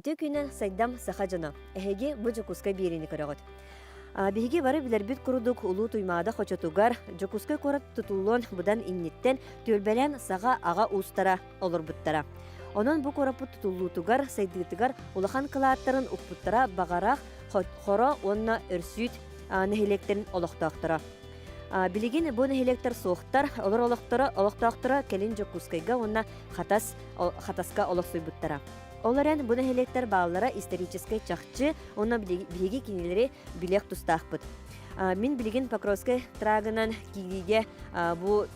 Ити күнэ сайдам саха дьоно, эһиги бу Дьокуускай биэриини көрөҕүт. Биһиги бары билэрбит курдук Улуу Туймаада хочотугар Дьокуускай куорат тутуллуон будан инниттэн түөлбэлээн саха аҕа уустара олорбуттара. Онон бу куораппыт тутуллуутугар сайдыытыгар улахан кылааттарын укпуттара баҕарах Хоро уонна Өрсүүт нэһилиэктэрин олохтоохторо. Билигин бу нэһилиэктэр суохтар, олор олохторо олохтоохторо кэлин Дьокуускайга уонна Хатас Хатаска олохсуйбуттара. Ол эрэн, бу нэһилиэктэр бааллара историческай чахчы, онно биһиги кинилэри билиэх тустаахпыт. Мин билигин Покровскай трагынан киириигэ бу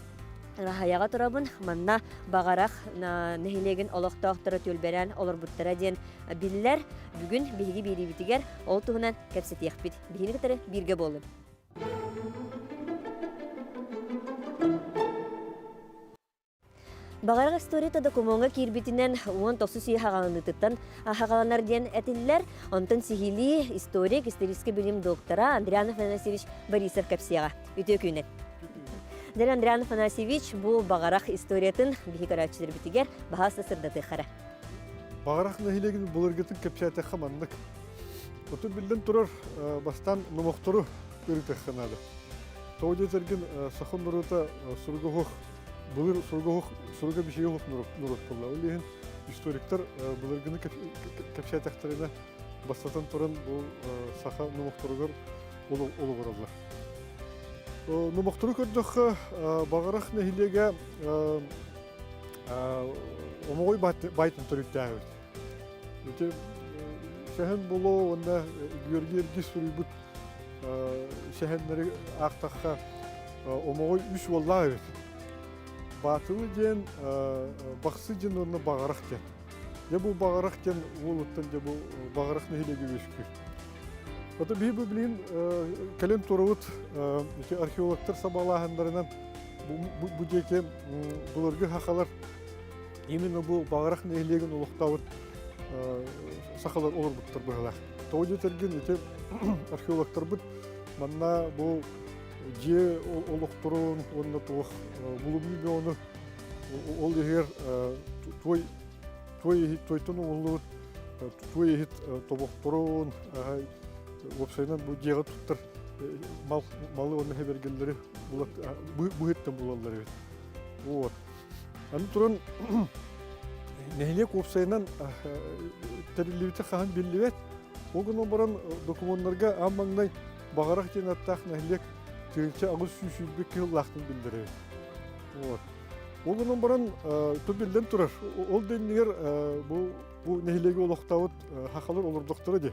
Ыраһайаҕа турабын. Манна Баҕарах нэһилиэгин олохтоохторо түөлбэрээн олорбуттара диэн биллэр. Бүгүн биһиги биэриибитигэр ол туһунан кэпсэтиэхпит. Биһини кытары бииргэ буоллун. Баҕарах историта докумуоҥҥа киирбитинэн уон тохсус үйэ хаҕаланыытыттан хаҕаланар диэн этиллэр. Онтон сиһилии историк, исторический билим доктора Андриан Афанасьевич Борисов кэпсиэҕэ. Үтүө күнүн! Дэн Андриан Афанасьевич бу баҕарах историятын биһи көрөөччүлэрбитигэр баһаас да сырдатыахара. Баҕарах нэһилиэгин былыргытын кэпсээтэххэ маннык. Отут биллэн турар бастаан номохтору ырытыахха наада. Тоҕо диэтэргин саха норуота суруга былыр суруга бишиге уһук нуруткулла ол иһин историктар былыргыны кэпсээтэхтэринэ бастатан туран бу саха номохторугар олоҕураллар номохтору көрдөххө баҕарах нэһилиэгэ омоҕой байтын төрүттээбит Ити сэһэн булоо уонна Георгий Эргис суруйбут сэһэннэри аахтахха омоҕой үс уоллаах эбит. Баатылы диэн бахсы диэн уонна баҕарах диэн. Дьэ бу баҕарах диэн уолуттан дьэ бу баҕарах нэһилиэгэ үөскүү. Ото биһи бу билин кэлин турабыт ити археологтар сабалааһыннарынан бу диэки буларга хахалар Именно бу Баҕарах нэһилиэгин олохтообут сахалар олорбуттар быһалаах. Тоҕо диэтэргин, ити археологтарбыт манна бу дьиэ олохторун уонна туох булумнуу бөҕөнү ол иһигэр туой туой туойтан оҥоллубут туой иһит тобохторун уопсайынан бу дьиэҕэ туттар мал малы уонна хэбэргэллэри быһыттан булаллар эбит. Вот. Аны туран нэһилиэк уопсайынан тэриллибитэ хаһан биллибэт. Ол гынан баран докумуоннарга аан маҥнай баҕарах диэн аттаах нэһилиэк тыһыынча аҕыс сүүс сүүрбэ кыһыллаахтын биллэрэр. Вот. Ол гынан баран тут биллэн турар, ол да иннигэр бу бу нэһилиэги олохтообут хахалар олордохторо дии.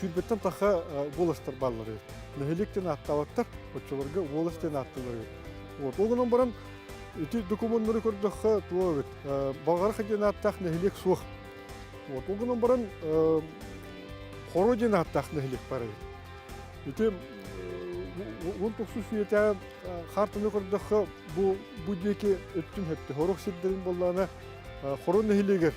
Сүүрбэттэн тахха волостар бааллары. Нэһилиэк диэн ааттаабаттар, оччолорго волость диэн ааттыылары. Вот. Ол гынан баран, ити документнары көрдөххө, туо эбит. Балгарха диэн ааттаах нэһилиэк суох. Вот. Ол гынан баран, Хоро диэн ааттаах нэһилиэк бар эбит. Ити он токсус үйэтэ хаартыны көрдөххө, бу бу диэки өттүн хэтти. Хорох сирдерин боллаана Хоро нэһилиэгер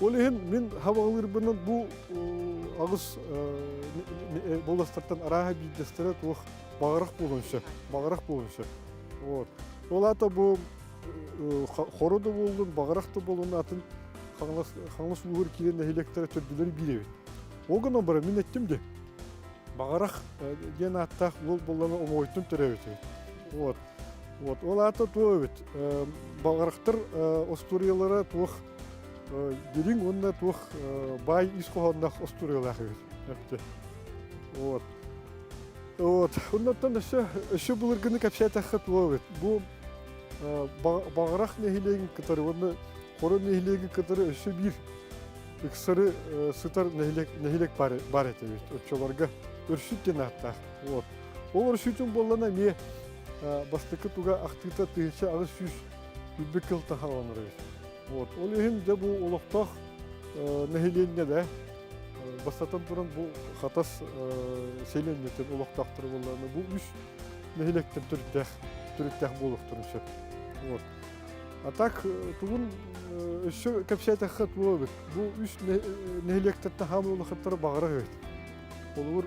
Ол иһин мин хабалыырбынан бу аҕыс боластартан арааһа биирдэстэрэ туох баҕарах буолуон сөп баҕарах буолуон сөп вот ол аата бу хоро да буоллун баҕарах да буоллун атын хаҥас ууһур киирэн нэһилиэктэрэ төрдүлэри биирэбит ол гынан баран мин эттим де баҕарах диэн ааттаах уол боллаҥа омоҕойтун төрөөбүтүбүт вот Вот. Ол аата туох эбит? Баҕарахтар остуоруйалара туох дириҥ уонна туох баай ис хоһоонноох остуоруйалаах эбит. Вот. Вот. Оннуттан өссө өссө былыргыны кэпсээтэххэ туох эбит? Бу Баҕарах нэһилиэгин кытары уонна Хоро нэһилиэгин кытары өссө биир ыксары сытар нэһилиэк нэһилиэк баар баар этэ эбит. Оччолорго өрсүт диэн ааттаах. Вот. Ол өрсүүтүн буоллана эмиэ бастакы туга ахтыыта тыһынча аҕыс сүүс үрдүк кыл таһааланара Вот. Ол иһин дьэ бу олохтоох нэһилиэнньэ да бастатан туран бу хатас селенньэтин олохтоохторо буоллаана бу үс нэһилиэктэн төрүттээх төрүттээх буолуохтарын сөп. Вот. А так тугун өссө кэпсээтэххэ туобут бу үс нэһилиэктэр таһаамын олохаттара баҕара өйт. Олугур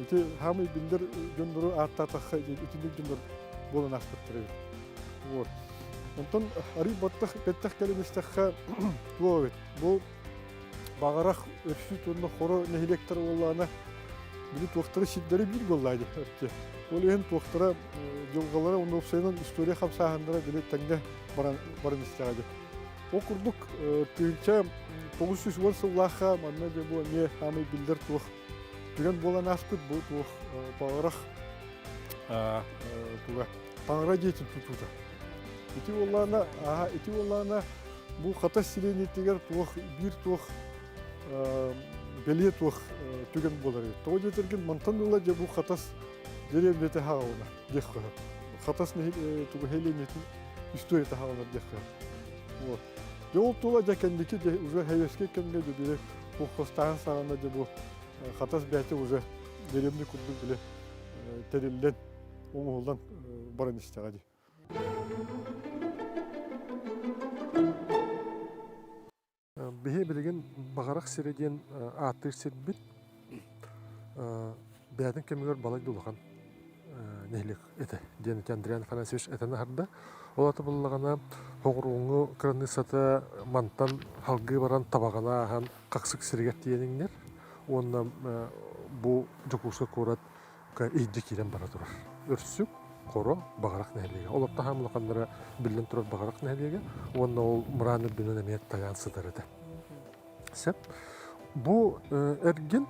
ити хаамый биллэр дьоннору ааттаатахха итинник дьоннор буолан аахпыттар вот онтон арый баттах бэттэх кэлэн истэххэ туо эбит бу баҕарах өрсүү туонна хоро нэһилиэктэр уоллаана били туохтара сирдэрэ биир буоллаа дии ол иһин туохтара дьылҕалара уонна уопсайынан история хамсааһыннара били тэҥҥэ баран баран истэҕэ дии ол курдук тыһыынча тоғыз сүүс уон сыллаахха манна дьэ бу эмиэ хаамый биллэр туох Күрэн буолан ааспыт бу туох паҕарах туга паҥара диэтин тутуута. Ити буоллаана, аха, ити буоллаана бу хатас сириэнитигэр туох биир туох бэлиэ туох түгэн болары. Тоҕо диэтэргин мантан ыла же бу хатас деревнете хаалына диэх хата. Хатас нехи тугу хелениетин история хаалына диэх хата. Вот. Дьэ ол тула дьэ кэнники дьэ уже хэбиэскэй кэмҥэ дьэ били куоххастааһын саҕана дьэ бу хатас бэйэтэ уже деревный курдук били тэриллэн оҥоһуллан баран истэҕэ дии. Биһи билигин Баҕарах сирэ диэн ааттыыр сирбит бэйэтин кэмигэр балай да улахан нэһилиэк этэ диэн ити Андриан Афанасьевич этэн аһарда. Ол ата буллаҕына Хоҕурууҥҥу кыраныыссата мантан халгыы баран табаҕаны ааһан хахсык сиригэр тиийэн иҥнэр уонна бу Дьокуускай куорат Эйгэ киирэн бара турар. Өрсүк, Хоро, Баҕарах нэһилиэгэ. Олор таһаам улаханнара биллэн турар Баҕарах нэһилиэгэ уонна ол мыраан үрдүнэн эмиэ тайаан сытар этэ. Сеп. Бу эргин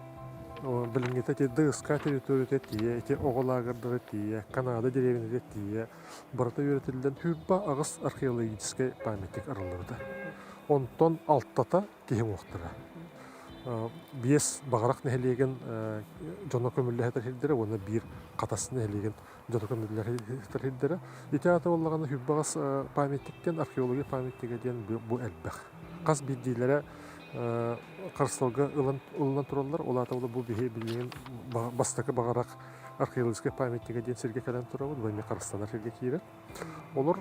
билингите тиэрде ыска территорията тие, эти оголаагырдары тие, Канада деревинede тие, барата үйретиллен хүрпа агыс археологическай памятник арылларыта. Онтон алтата киһи уохтара. Биэс Баҕарах нэһилиэгин дьоно көмүллэһэтэр сирдэрэ уонна биир Хатас нэһилиэгин дьоно көмүллэһэтэр сирдэрэ. Ити аата буоллаҕына Сүрбэҕэс памятниктэн археология памятнига диэн бу элбэх. Хас биирдиилэрэ харысылга ылынан тураллар. Ол аата бу биһи билигин бастакы Баҕарах археологическай памятнига диэн сиргэ кэлэн турабыт, бу эмиэ харыстанар сиргэ киирэр. Олор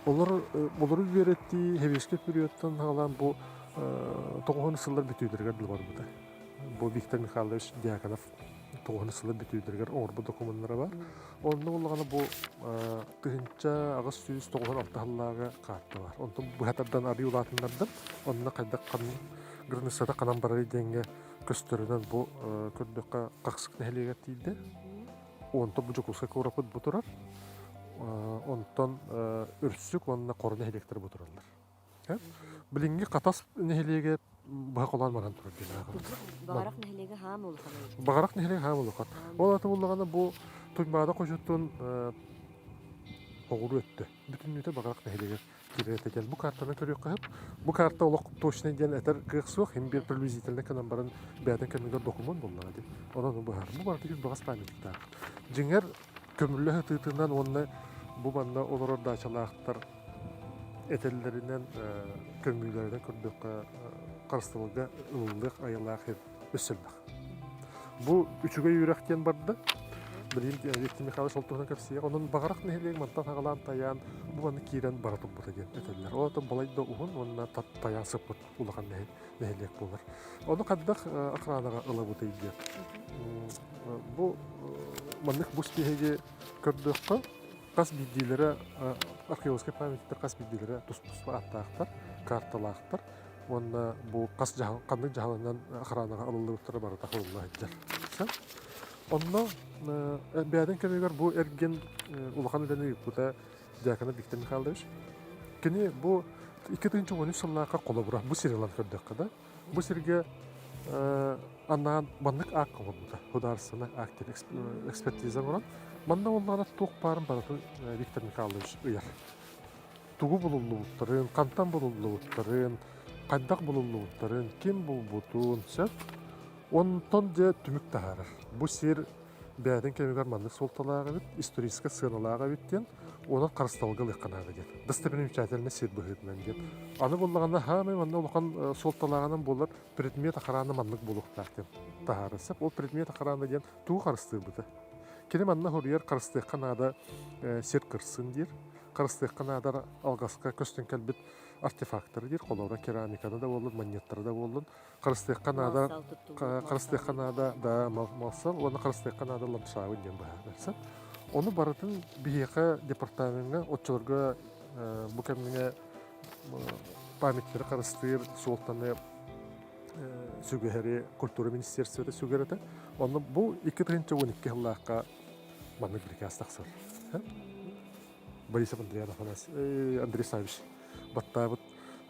олор олору үөрэттии Хевеська периодтан хаалаан бу тоҕуһун сыллар бүтүүдэригэр дылы барбыта. Бу Виктор Михайлович Дьяконов тоҕуһун сыллар бүтүүдэригэр оҥорбут докумуоннара бар. Онно буоллаҕына бу тыһыынча аҕыс сүүс тоҕуһун алта сыллааҕы каарта бар. Онтон быһа тардан арыый улаатыннардан онно хайдах границата ханан барарый диэҥҥэ көстөрүнэн бу көрдөххө Хахсык нэһилиэгэр тиийдэ. Онтон бу Дьокуускай куораппыт бу турар. Онтон Үрсүк уонна Хоро нэһилиэктэр бу тураллар. Билиҥҥи Хатас нэһилиэгэ быһа холоон баран турар диэн ааҕабыт. Баҕарах нэһилиэгэ хаам улахан Баҕарах нэһилиэгэ хаам улахан. Ол атын буллаҕына бу Туймаада хочуттун хоҕуру өттө. Бүтүннүүтэ Баҕарах нэһилиэгэ Кириэтэй диэн бу картаны көрүөххэ сөп. Бу карта олох точный диэн этэр кыах суох, им биир приблизительно гынан баран бэйэтин кэмигэр докумуон буоллаҕа дии. Онон быһаарар. Бу барыта үс баҕас памятниктаах. Дьиҥэр, көмүллэ сытыытынан уонна бу манна олорор даачалаахтар этэллэринэн, көмүүлэринэн көрдөххө харыстабылга ылыллыах айылаах өссө элбэх. Бу үчүгэй үөрэх диэн барда. Билим Виктор Михайлович ол туһунан кэпсиэ. Онон Баҕарах нэһилиэк мантан хагалаан тайаан бу манна киирэн бара турбута диэн этэллэр. Ол атым балайда уһун уонна тайаан сыппыт улахан нэһилиэк буолар. Ону хаддах охранаҕа ылабытай диэн. Бу маннык бу стиһиги көрдөххө хас биирдиилэрэ археологическай памятниктер хас биирдиилэрэ тус-туспа аттаахтар, карталаахтар. уонна бу хас дьаһал ханнык дьаһалынан охранаҕа ылыллыбыттара барыта хабылла сылдьар. Онно бэйэтин кэмигэр бу эргин улахан үлэни ыыппыта Дьаакына Виктор Михайлович. Кини бу 2013 сыллааҕы холобура бу сир ылан көрдөххө да бу сиргэ анаан маннык аак оҥорбута судаарыстыбаннай аак диэн экспертиза оҥорон манна буоллаҕына туох баарын барытын Виктор Михайлович ыйар тугу булуллубуттарын, хантан булуллубуттарын, хайдах булуллубуттарын, ким булбутун сөп. Онтон дьэ түмүк таһаарар. Бу сир бэйэтин кэмигэр маннык суолталаах эбит, историческай сыаналаах эбит диэн, онон харысталга ылыахха наада диэн. Достопримечательнай сир быһыытынан диэн. Аны буллаҕына хаамай манна улахан э, суолталааҕынан булар предмет охрана маннык булуохтаах диэн таһаарар сөп. Ол предмет охрана диэн тугу харыстыырбыта. Кини манна хоруйар харыстыахха наада э, сир кырсын диир. харыстыахха наада алгаска көстөн кэлбит артефактары диир холуора керамиканы да буоллун манньыаттары да буоллун харыстыахха наада харыстыахха наада да малсал уонна харыстыахха наада ламшаабын диэн быһа берсэн ону барытын биһиэхэ департамеҥҥа оччолорго бу кэмҥэ памяттары харыстыыр суолтаны сүгэһэри культура министерствота сүгэрэтэ онно бу 2012 жыллаахха Маннык бирикээс тахсар. Борисов Андрей Афанасьевич, Андрей Савич баттаабыт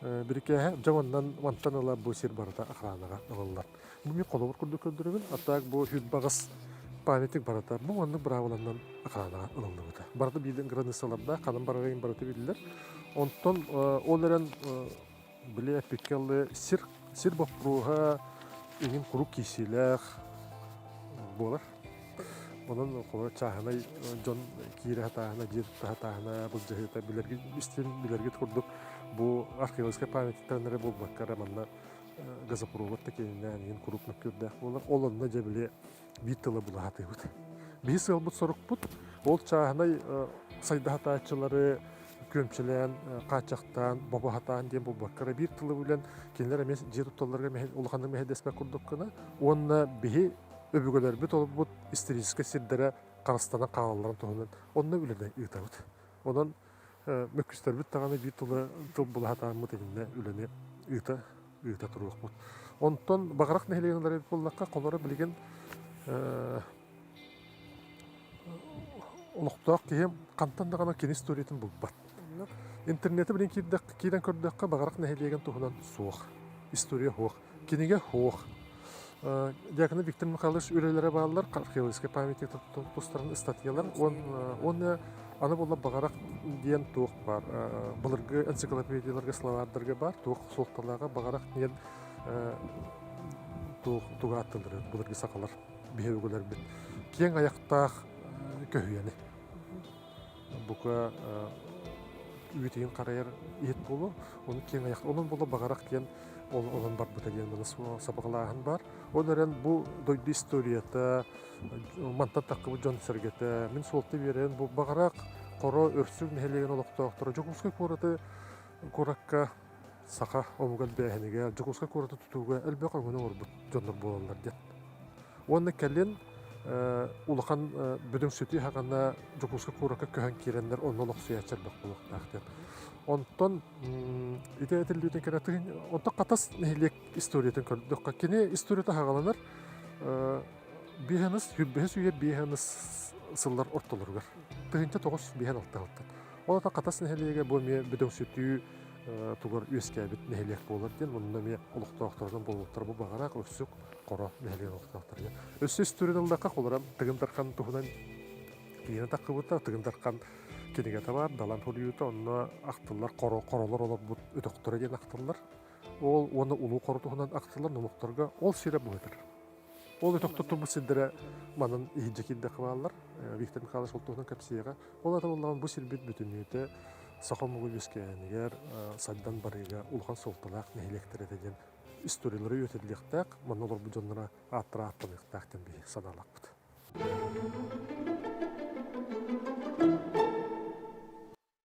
бирикээһэ дьэ оннан мантан ыла бу сир барыта охранаҕа ылыллар. Бу мен холобур курдук көрдөрөбүн, а так бу хүт багас памятник барыта бу оннук быраабыланнан охранаҕа ылыллыбыта. Барыта биилин границаларда ханан барарыйын барыта биллер. Онтон ол эрен Били эппиккэ аллы сир сир боппуруоһа иһин куруук киирсиилээх буолар. Онон чааһынай дьон киирэ сатааһына, дьиэ тутта сатааһына, былдьаһыыта билэргит истин билэргит курдук бу археологическай памятниктан эрэ буолбакка эрэ манна газопровод да киэнинээн иһин куруук мөккүөрдээх буолар. Ол онно дьэ били биир тыла булаһатыыбыт. Биһи сыалбыт сорукпут ол чааһынай сайдаһатааччылары күөмчүлээн, хааччахтаан, бобаһатаан диэн буолбакка, биир тылы билэн кинилэр эмиэ дьиэ тутталларга улаханнык мэһэйдэспэт курдуккуна уонна биһи өбүгэлэрбит олорбут историческай сирдэрэ харыстана хаалалларын туһунан онно үлэни ыытабыт. Онон мөккүстэрбит даҕаны биир тылы тыл була сатааммыт иннинэ үлэни ыыта ыыта туруохпут. Онтон Баҕарах нэһилиэгин уларыйбыт буоллахха, холоро билигин олохтоох киһи хантан даҕаны кини историятын булбат. Интернеты билин киирдэххэ, киирэн көрдөххө, Баҕарах нэһилиэгин туһунан суох, история суох. Кинигэ уох. Диакона Виктор Михайлович үлэлэрэ бааллар археологическай памятник тустарын ыстатыйалар уонна аны булла баҕарах диэн туох баар былыргы энциклопедияларга словардарга баар туох суолталааҕа баҕарах диэн туох тугааттанары былыргы сахалар биһи үгүлэрбит киэҥ айахтаах көһүйэни бука үүтүйүн харайар иһит буолуо ону киэҥ айах олон буола баҕарах диэн олон барбыта диэн маны сабаҕалааһын баар ол эрэн бу дойду историята мантан таххыбыт дьон сэргэтэ мин суолта биэрэн бу баҕарах хоро өрсүг нэһилиэгин олохтоохторо дьокуускай куораты куоракка саха омуга элбээһинигэ, Дьокуускай куораты тутууга элбэх өҥөнү оҥорбут дьоннор буолаллар диэн. Уонна кэлин улахан Бүдөҥ сүтүү хаҕана Дьокуускай куоракка көһөн киирэннэр онно олохсуйааччы элбэх буолуохтаах диэн. Онтон ити этиллиитин кэрэтин онтон Хатас нэһилиэк историятын көрдөххө кини историята хаҕаланар биэһэныс бэһис үйэр биэһэныс сыллар ортолоругар тыһыынча тоҕус биэһэн алтыһалтан. Ол атан Хатас нэһилиэгэ бу эмиэ Бүдөҥ сүтүү тугар үөскээбит нэһилиэк буолар диэн онно эмиэ олохтоохторунан буолуохтара бу баҕараах өксүк хоро нэһилиэк олохтоохторуна өссө үстүрүн ыллахха холоро тыгын дархан туһунан киинэ таххыбыта тыгын дархан кинигэ табаар далан хулуйуута онно ахтыллар хоро хоролор олорбут өтөхтөрө диэн ахтыллар ол уонна улуу хоро туһунан ахтыллар номохторго ол сирэ быһытар Ол өтөх туттуммут сирдэрэ манан иһирдьэ киирдэххэ бааллар. Виктор Михайлович ол туһунан кэпсиэҕэ. Ол атан ыллаҕын бу сирбит бүтүннүүтэ саха омугу үөскээһинигэр, сайдан барыыга улахан суолталаах нэһилиэктэр этэ диэн историялары үөтэллиэхтээх, манна олорбут дьонноро ааттара ааттаныахтаах диэн биһиги санаалаахпыт.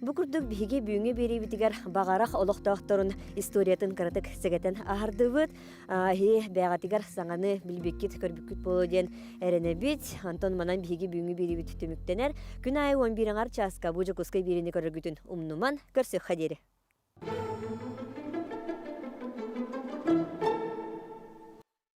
Бу курдук биһиги бүгүҥҥү биэриибитигэр баҕарах олохтоохторун историятын кыратык сэгэтэн аһардыбыт. Эһи бэҕэтигэр саҥаны билбиккит-көрбүккүт буолуо диэн эрэнэбит. Антон манан биһиги бүгүҥҥү биэриибит түмүктэнэр. Күн аайы 11 чааска бу Дьокуускай биэриини көрөргүтүн умнуман көрсүөххэ диэри.